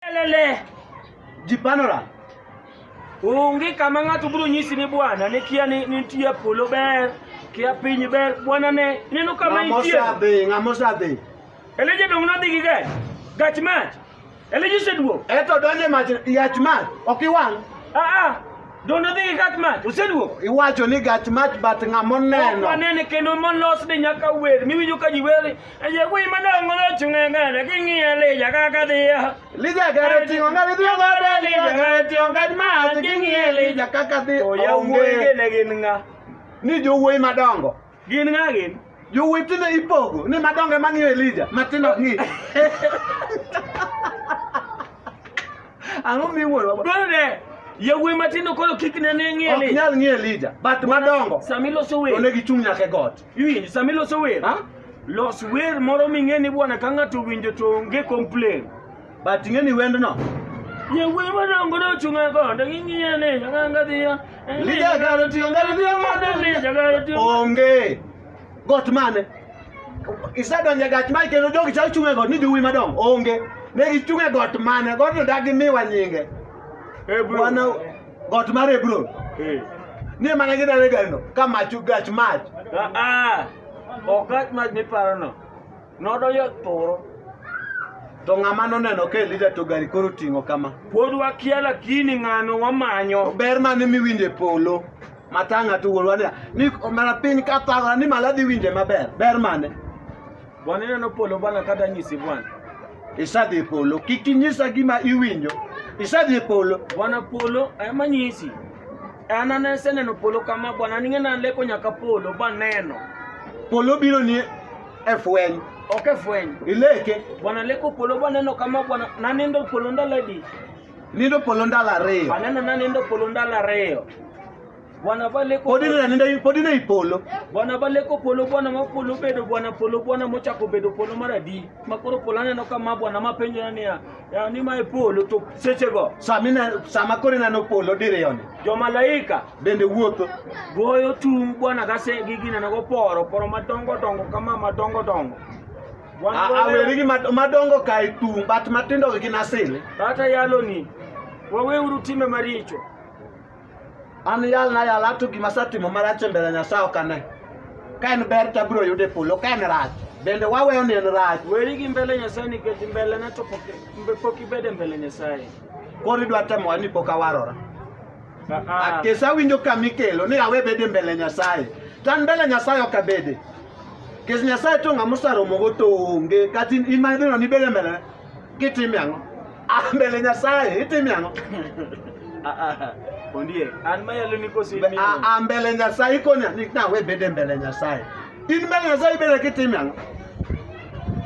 Lele jipanora onge kama ng'ato biro nyisi ni bwana ne kia ni nitie polo ber kia piny ber bwana ne ineno kama nitie ng'amo sadhi eleje dong nodhi gi gach gach mach eleje seduo eto donje mach yach mach ok iwang' a ah, a ah. Dono dhi gat mach, oseduogo. Iwacho ni gach mach but ng'ama oneno. Wanene kendo molos ni nyaka wer, miwinjo ka ji wer Aye kui mana ngono chunga ngana kingi ale jaga kadia. Lija gare tingo ngare tingo ngare lija gare tingo ngare ma kingi ale jaga kadia. To ya wuoyi ne gin nga. Ni jo wuoyi madongo. Gin nga gin. Jo wuoyi tinde ipogo ni madongo ema ng'iyo Elija matindo ok ng'i. Ang'o miwuoro? Dwaro ne yawuoyi matindo koro kik ne ng'i Elija. Ok nyal ng'i Elija but madongo. Samiloso welo. Onego ichung' nyaka e got. Iwinjo sama iloso wer, Ha? los wer moro ming'e ni bwana ka ng'ato owinjo to onge complain. But ing'e ni wendno. Ye wer madongo no chunga konde ng'ing'iye ni jaganga dhiya. Lija garo tiyo ngari dhiya mane? Lija jaganga tiyo. Onge. Got mane? Isedonjo e gach mane kendo jogi chal chung' e got ni jowuoyi madongo. Onge. Ne gichung' e got mane? Godno dagi miwa nyinge. Eh, bro. Wana got mar Hebron ni mana gidare garino ka mach gach mach ok gach mach miparono nodonjo thuro to ng'ama noneno ka Elija to gari koro ting'o kama pod wakia lakini ng'ano wamanyo ber mane miwinjo e polo matanga to wuonwa ni omera piny ka thagora ni malo adhi winje maber ber mane Bwana ineno polo bwana kata nyisi bwana. Isadhi polo, kik inyisa gima iwinjo. Isadhi polo. Bwana polo ema nyisi. An aneseneno polo kama bwana ning'ena leko nyaka polo baneno. Polo biro ni e fweny. Ok e fweny. Ileke. Bwana leko polo baneno kama bwana nanindo polo ndaladi. Nindo polo ndalo ariyo. Aneno nanindo polo ndalo ariyo. Bwana bale ko Podi na nenda podi na ipolo. Bwana bale ko polo bwana ma polo bedo bwana polo bwana mocha ko bedo polo maradi. Makoro polana no kama bwana mapenjo na niya. Ya ni ma ipolo to seche go. Samina sama kore na no polo dire yone. Jo malaika bende wuotho. Goyo tung bwana gase gigi na go poro poro madongo dongo kama madongo dongo. Awerigi madongo ka itung but matindo gi nasili. Kata yalo ni. Waweuru time maricho. An yal na yal ato gima asetimo marach e mbele Nyasaye ok ane. Ka en ber to abiro yudo e polo, ka en rach bende waweyo ni en rach. Weri gi mbele Nyasaye nikech mbele ne to pok mbe- pok ibed e mbele Nyasaye. Koro idwa temowa ni pok awarora. Ah, ah. Kesa winjo kama ikelo ni awe bede mbele Nyasaye. To an mbele Nyasaye ok abede. Kes Nyasaye to ng'ama osaromogo to onge. Kata in in ma idhi neno ni ibede mbele Kitime ang'o? Ah, mbele Nyasaye, itime ang'o? Ah, ah, ah. Ondiek, an mayalo ni koso imiyo. Ah, ah, mbele Nyasaye ikonya ni na we bede mbele Nyasaye. In mbele Nyasaye bede kitime ang'o?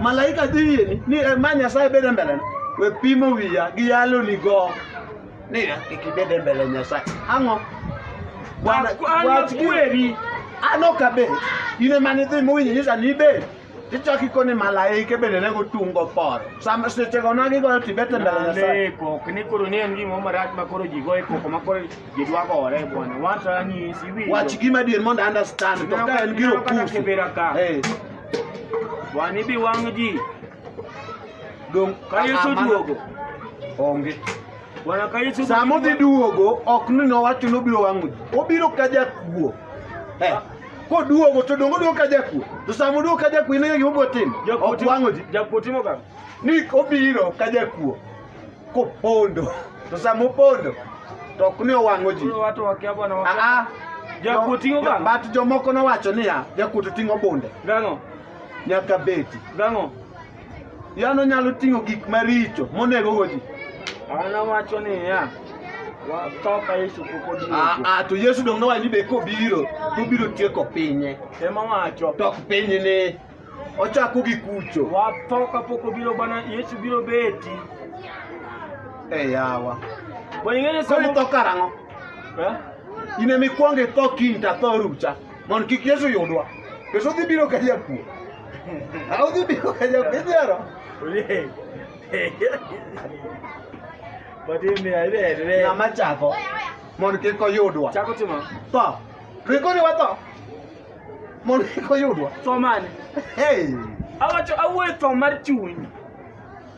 Malaika dhi yeni ni eh, ma Nyasaye bede mbele na. We pimo wiya gi yalo ni go. Ni eh, ikibede mbele Nyasaye. Ang'o? Bwana, An- an wach gi- kweri. An ok abed. In ema nidhi mowinjo nyisa ni ibed. tichako ikone malaike bende ne gotungo poro sama sechego na gigoyo tibete mbele nyasaye kok ni koro ni en gima marach ma koro ji goyo koko ma koro ji dwa gore bwana wacho anyisi winjo wach gima dier mondo understand to ka en gi okusu eh wani bi wang' ji dong ka yesu duogo onge Sama odhi duogo ok ni nowacho nobiro wang'o ji, obiro ka jakuo. Eh, koduogo to dongo duogo ka jakuo. To sama oduogo ka jakuo ineno gima obiro timo. Ok wang'o ji. Jakuo timo kama. Ni obiro ka jakuo kopondo. To sama opondo to ok ni owang'o ji. Aa, jakuo ting'o kama. But jomoko nowacho niya, jakuo to ting'o bunde. Gang'o? Nyaka beti. Gang'o? Yano nyalo ting'o gik maricho monego go ji. An awacho niya, watho ka Yesu pok oduogo. Ah, ah, to Yesu dong nowacho ni be kobiro, to obiro tieko pinye. Ema wacho. To ok pinyni. Ochako gi kucho. Watho ka pok obiro bana Yesu biro beti. E yawa. Bo ing'eyo Koro somo. itho karang'o? Eh? In ema ikwongo itho kiny to atho rucha. Mondo kik Yesu yudwa. Yesu dhi biro ka jakuo. Haujibi ukaja kujaro. Ule. Bati mia ile ile. Na machako. Mon ke ko yudwa. Chako timo. To. Riko ni wato. Mon ke ko yudwa. To mane. Hey. Awacho awuoyo to mar chuny.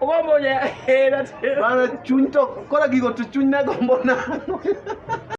Owa moja hera. Bana chuny to kora gigo to chuny na gombo na.